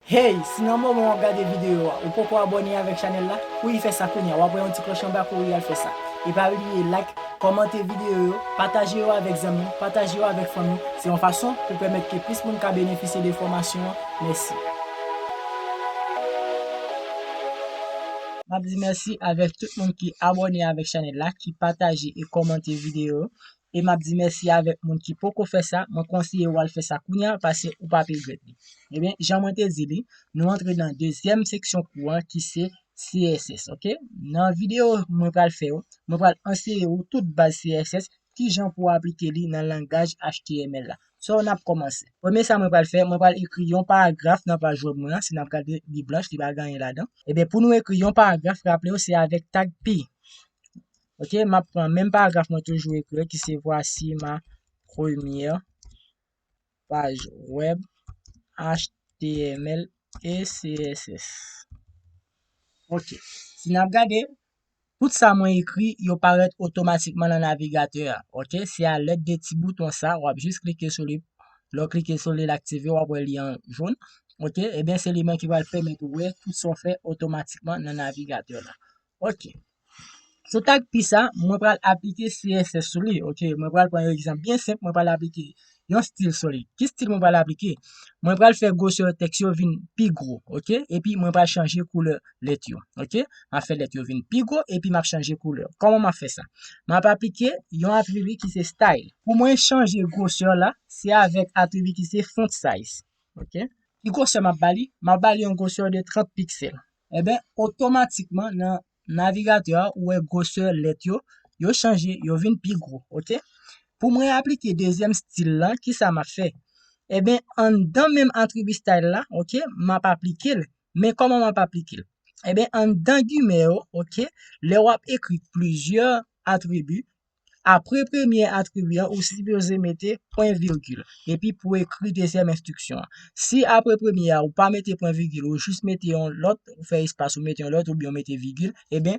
Hey, si nan moman wap gade video a ou poko abone avek chanel la, kouri fè sa kounya, wap wè yon ti kloch anba kouri al fè sa. E pa bliye like, kòmante video yo, pataje yo avek zanmi, pataje yo avek fanmi, se yon fason pou pèmèt ke plis moun ka benefisye de fòmasyon an, mèsi. Map di mèsi avek tout moun ki abone avek chanel la, ki pataje e kòmante video yo, e map di mèsi avèk moun ki poko fè sa, mwen konsiye ou al fè sa kounya pase ou pap regrèt li. Ebyen, jan mwen te di li, nou antre nan dezyèm seksyon kou an ki se CSS ok. Nan videyo mwen pral fè yo, mwen pral anseye ou tout baz CSS, kijan pou aplike li nan langaj html la. So nap kòmanse. Premye sa mwen pral fè, mwen pral ekri yon paragraf nan paj wèb mwen an, si nap gade li blanch li pa gen anyen ladan. Ebyen pou nou ekri yon paragraf, raple ou se avèk tag pi. Ok, m ap pran menm paragraf mwen toujou ekri an ki se voici ma première page web html et css. Ok, si n ap gade, tout sa mwen ekri yo parèt otomatikman nan navigatè a. Ok, se a lèd de ti bouton sa, w ap jis klike sou li, lè w klike sou li l aktive, w ap wè li an jaune. Ok, e byen se li menm ki pral pèmèt ou wè tout sa w fè otomatikman nan navigatè la. Ok. Sou tag pi sa, mwen pral aplike CSS sou li, ok? Mwen pral pran yon egzanp byen senp, mwen pral aplike yon stil sou li. Ki stil mwen pral aplike? Mwen pral fè gwosè tèks yo vin pi gwo, ok? Epi mwen pral chanje koulè lèt yo, ok? M ap fè lèt yo vin pi gwo epi m ap chanje koulè. Kòman m ap fè sa? M ap aplike yon atribi ki se style. Pou mwen chanje gwosè la, se avèk atribi ki se font size, ok? Ki gwosè m ap ba li? M ap ba li yon gwosè de 30 piksèl, Enben, otomatikman nan navigatè a ou wè gwosè lèt yo, yo chanje, yo vin pi gwo, ok. Pou mwen aplike dezyèm stil lan, kisa m ap fè? Enben, anndan menm atribi style la, ok, m ap aplike l. Men kòman m ap aplike l? Enben, anndan gimè yo, ok, lè w ap ekri plizyè atribi, Apre premye atribi an, ou sipoze mete pwen vigil, epi pou ekri dezyèm enstriksyon an. Si apre premye a ou pa mete pwen vigil, ou jis mete yon lòt, ou fè espas, ou mete yon lòt, oubyen ou mete vigil, eben,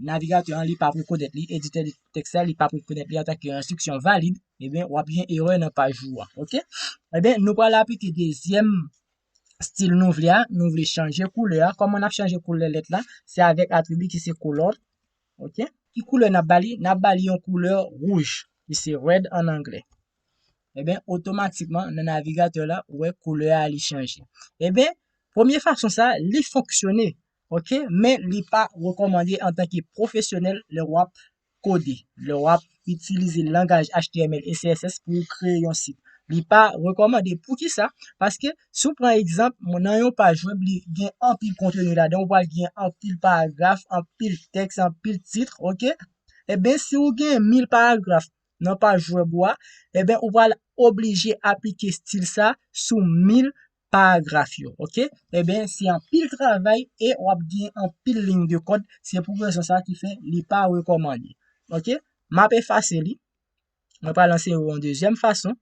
navigatè an li p ap rekonèt li, editè tèks la li p ap rekonèt li antanke yon enstriksyon valid, eben, w ap gen erè nan paj ou an, ok. Eben, nou pral aplike dezyèm stil nou vle a, nou vle chanje koulè a, kòman n ap chanje koulè lèt la? Se avèk atribi ki se color. Ok. Ki koulè nap ba li? Nap ba li yon koulè wouj, ki se red an anglè. Eben, otomatikman nan navigatè la, ou wè koulè a li chanje. Eben, premye fason sa, li fonksyone. Ok, men li pa rekòmande antanke pwofesyonèl lè wap kode, lè wap itilize langaj html e css pou ou kreye yon sit. Li pa rekòmande. Poukisa? Paske si w pran egzanp, nan yon paj web li gen anpil konteni ladan, ou pral gen anpil paragraf, anpil tèks, anpil titre, ok? Eben si ou gen 1000 paragraf nan paj web ou a, eben ou pral oblije aplike stil sa sou 1000 paragraf yo ok enben se anpil travay e wap gen anpil lign de kòd se pou rezon sa ki fè li pa rekòmande ok map efase li mwen pral anseye ou yon dezyèm fason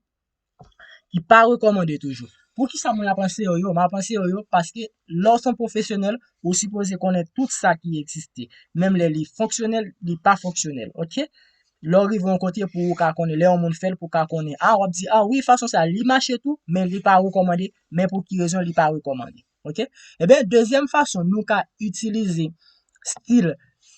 ki pa rekòmande toujou poukisa mwen ap anseye ou yo map anseye ou yo paske lè w son pwofesyonèl ou sipoze konnen tout sa ki egziste menm lè li fonksyonèl li pa fonksyonèl ok Lè w rive yon kote pou ou ka konnen, lè yon moun fèl pou ka konnen. Ah, wap di, ah oui, fason sa li mache tou, men li pa rekomande, men pou ki rezon li pa rekomande. Ok? Eben, eh dezyèm fason nou ka itilize stil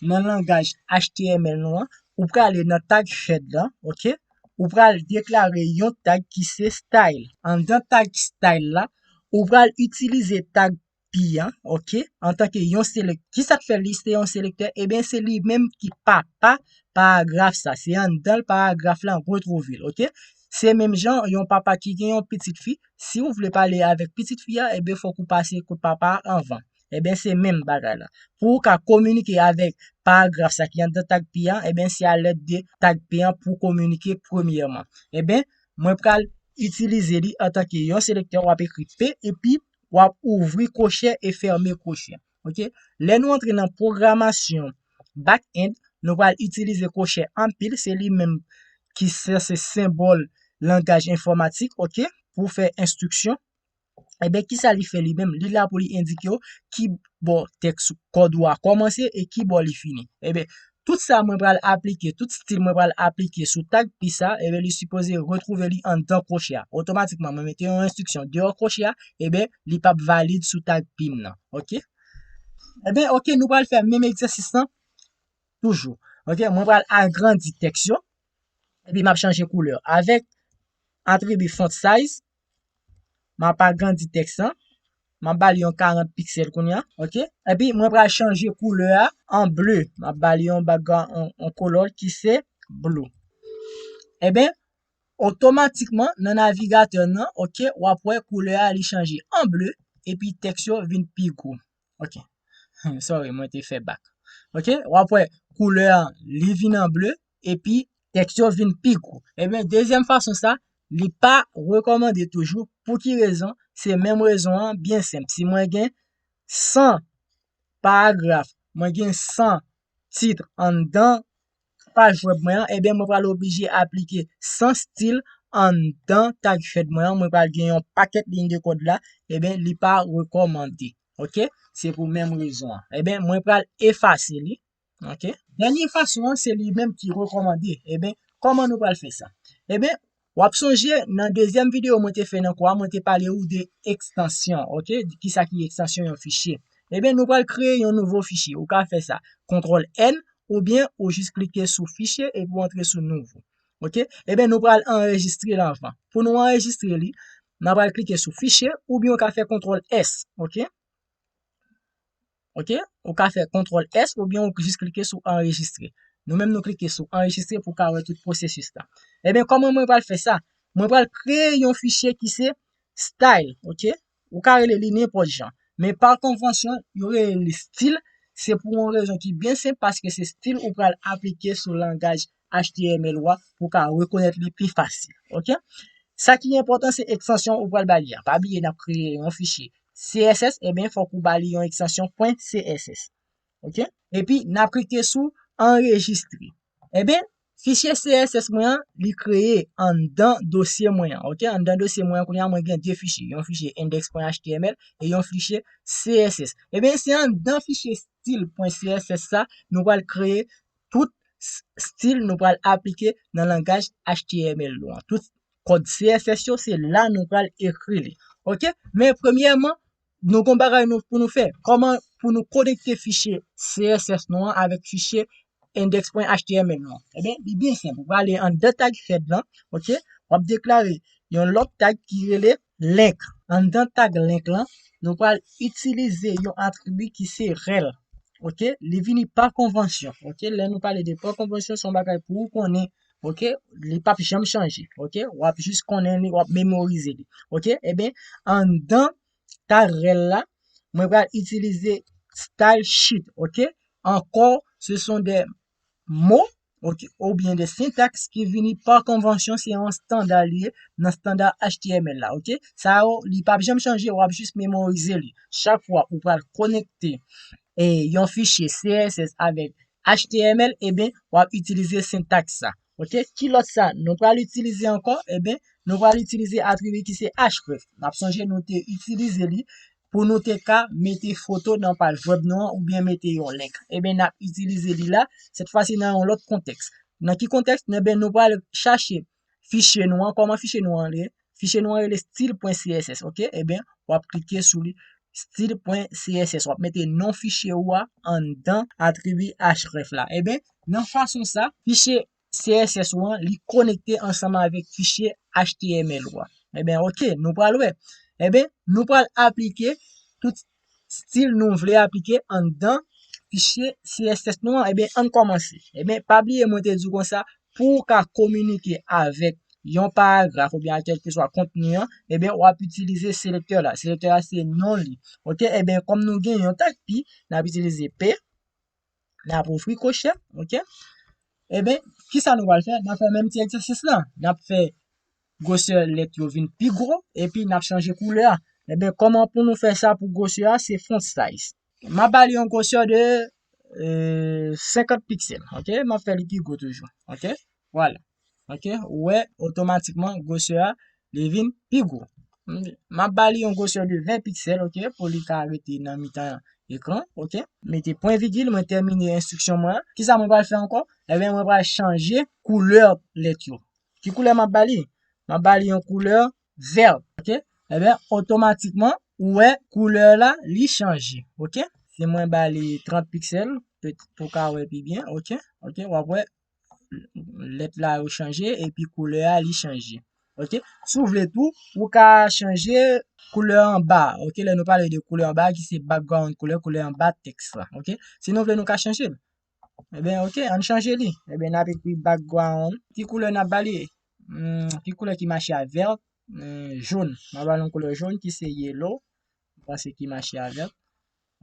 nan langaj HTML nou an, ou prale nan tag head la, ok? Ou pral deklare yon tag ki se style. Anndan tag style la, ou pral itilize tag pi an ok antanke yon selèk kisa k fè li se yon selektè ebyen se li menm ki papa paragraf sa se anndan paragraf la ou twouve l ok se menm jan yon papa ki gen yon pitit fi si ou vle pale avèk pitit fi a ebyen fòk ou pase kot papa a anvan ebyen se menm bagay la pou ou ka kominike avèk paragraf sa ki anndan tag pi an ebyen se a lèd de tag pi an pou kominike premyèman ebyen mwen pral itilize li antanke yon selektè w ap ekri p epi wap ouvri kochè e fèmen kochè ok lè nou antre nan pwogramasyon back end nou pral itilize kochè anpil se li menm ki se senbòl langaj enfòmatik ok pou fè enstriksyon enben eh kisa li fè li menm li la pou li endike yo ki bò tèks kòd ou a kòmanse e ki bò li fini enben Tout sa mwen pral aplike, tout stil mwen pral aplike sou tag pi sa, eben li sipoze retwouve li anndan kwoche a. Otomatikman mwen mete yon enstriksyon deyò kwoche a, eben li pap valid sou tag pi m nan. Ok. Eben ok nou pral fè menm egzèsis lan toujou. Ok, mwen pral agrandi tèks yo, epi map chanje koulè. Avèk atribi font size, Mwen ap agrandi tèks lan. Mwen ap ba li yon 40 piksèl kounye a. Ok. Epi mwen pral chanje koulè a an ble. Mwen ap ba li yon background, yon color ki se blue. Eben, otomatikman nan navigatè nan, ok, w ap wè koulè a li chanje an ble epi tèks yo vin pi gwo. Ok. Sorry, mwen te fè bak. Ok, wap wè, koulè an, li vin an ble, epi tèks yo vin pi gwo. Ebyen, dezyèm fason sa, li pa rekomande toujou, pou ki rezon, se menm rezon an, byen senp. Si mwen gen 100 paragraf, mwen gen 100 tit anndan paj wèb mwen an, ebyen mwen pral oblije aplike sans stil anndan tag head mwen an, mwen pral gen yon pakèt liy de kòd la, ebyen li pa rekòmande. Ok, se pou menm rezon an. Ebyen mwen pral efase li, ok. Dènye fason an se li menm ki rekòmande, ebyen kòman nou pral fè sa? Ebyen Wap sonje nan dezyèm video mwen te fè nan kou a mwen te pale ou de ekstansyon ok kisa ki ekstansyon yon fichye ebyen nou pral kreye yon nouvo fichye ou ka fè sa kontrol N oubyen ou jis klike sou fichye epi ou antre sou nouvo ok ebyen nou pral anrejistre l anvan pou nou anrejistre li nan pral klike sou fichye oubyen ou ka fè kontrol S ok. Ok, ou ka fè kontrol S ou byen ou jis klike sou anrejistre. Nou menm nou klike sou anrejistre pou ka wè tout pwosesis la. Ebyen eh koman mwen pral fè sa? Mwen pral kreye yon fichye ki se style, ok? Ou ka rele li nenpòt jan. Men pa konvansyon, yo rele li stil, se pou yon rezon ki byen senp paske se stil ou pral aplike sou langaj html ou a pou ka rekonèt li pi fasil. Ok? Sa ki enpòtan se ekstansyon ou pral ba li a. Pa bliye nap kreye yon fichye CSS, e eh ben fòk ou ba li yon ekstansyon .css. Ok? Epi nap klike sou anrejistre. E eh ben fichye CSS mwen an li kreye anndan dosye mwen an. Ok? Anndan dosye mwen an kounya mwen gen 2 fichye, yon fichye index.html e yon fichye CSS. E eh ben se anndan fichye stil.css sa nou pral kreye Tout stil nou pral aplike nan langaj html nou an. Tout kòd CSS yo se la nou pral ekri li. Ok, men premyèman, nou gon bagay nou pou nou fè. Kòman pou nou konekte fichye CSS nou an avèk fichye index.html nou an? Ebyen, eh li byen senp. Ou prale anndan tag head lan, ok, wap deklare yon lòt tag ki rele Link, Anndan tag link lan, nou pral itilize yon atribi ki se rel. Ok, li vini pa konvansyon. Ok, lè nou pale de pa konvansyon, se yon bagay pou ou konnen. Ok, li pap janm chanje. Ok, w ap jis konnen li, w ap memorize li. Ok, eben, anndan tag rel la, mwen pral itilize style sheet. Ok, ankò, se son de Mo, oubyen de sentaks ki vini pa konvansyon se yon standa li ye nan standa html la ok sa yo li pap janm chanje wap jis memorize li chak fwa ou pral konekte yon fichye CSS avèk html eben wap itilize sentaks sa Ok, ki lòt sa nou pral itilize ankò? Eben, nou pral itilize atribi ki se href. N ap sonje nou te itilize li pou nou te ka mete foto nan paj wèb nou an oubyen mete yon link. Eben, n ap itilize li la, sètfwasi nan yon lòt kontèks. Nan ki kontèks? Eben, nou pral chache fichye nou an. Kòman fichye nou an rele? Fichye nou an rele stil.css ok eben wap klike sou li stil.css wap mete non fichye ou a anndan atribi href la eben nan fason sa fichye css ou an li konekte ansanm avèk fichye html ou a eben ok nou pral wè eben nou pral aplike tout stil nou vle aplike anndan fichye css nou an ebyen ann kòmanse ebyen pa bliye mwen te di w konsa pou w ka kominike avèk yon paragraf oubyen ak kèlkeswa kontni an ebyen wap itilize selektè la selektè a se non li ok ebyen kòm nou gen yon tag pi nap itilize p N ap ofri kosher, ok. Eben, kisa nou pral fè? N ap fè menm ti egzèsis la. N ap fè gwosè lèt yo vin pi gwo, epi n ap chanje koulè a. Eben, kòman pou nou fè sa pou gwosè a? Se font size. M ap ba li yon gwosè de 50 piksèl, ok. M ap fè li pi gwo toujou, ok. Vwala. Ok, ou wè otomatikman gwosè a li vin pi gwo. M ap ba li yon gwosè de 20 piksèl ok pou li ka rete nan mitan ekran ok. Mete pwen vigil mwen tèmine enstriksyon mwen an. Kisa mwen pral fè ankò? Ebyen mwen pral chanje koulè lèt yo. Ki koulè m ap ba li? M ap ba li yon koulè vèt ok. Ebyen otomatikman ou wè koulè la li chanje ok. Si mwen ba li 30 piksèl pou w ka wè pi byen ok. Ok, w ap wè lèt la yo chanje epi koulè a li chanje. Ok, si w vle tou, ou ka chanje koulè anba, ok, lè nou pale de koulè anba ki se background koulè, koulè anba tèks la, ok. Si nou vle nou ka chanje l. Eben ok, an n chanje li. Eben n ap ekri background. Ki koulè n ap ba li? Ki koulè ki mache a vèt? Jòn. M ap ba l yon koulè jòn ki se yellow. M panse ki mache a vèt.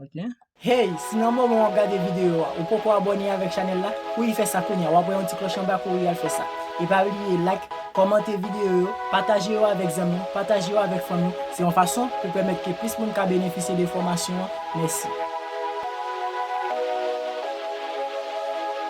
ok. Hey, si nan moman wap gade video a ou poko abone avek chanel la, kouri fè sa kounya, wap wè yon ti kloch anba kouri al fè sa. E pa bliye like, komante video yo, pataje yo avek zanmi w, pataje yo avek fanmi w, se yon fason pou pèmèt ke plis moun ka benefisye de fomasyon an, mèsi.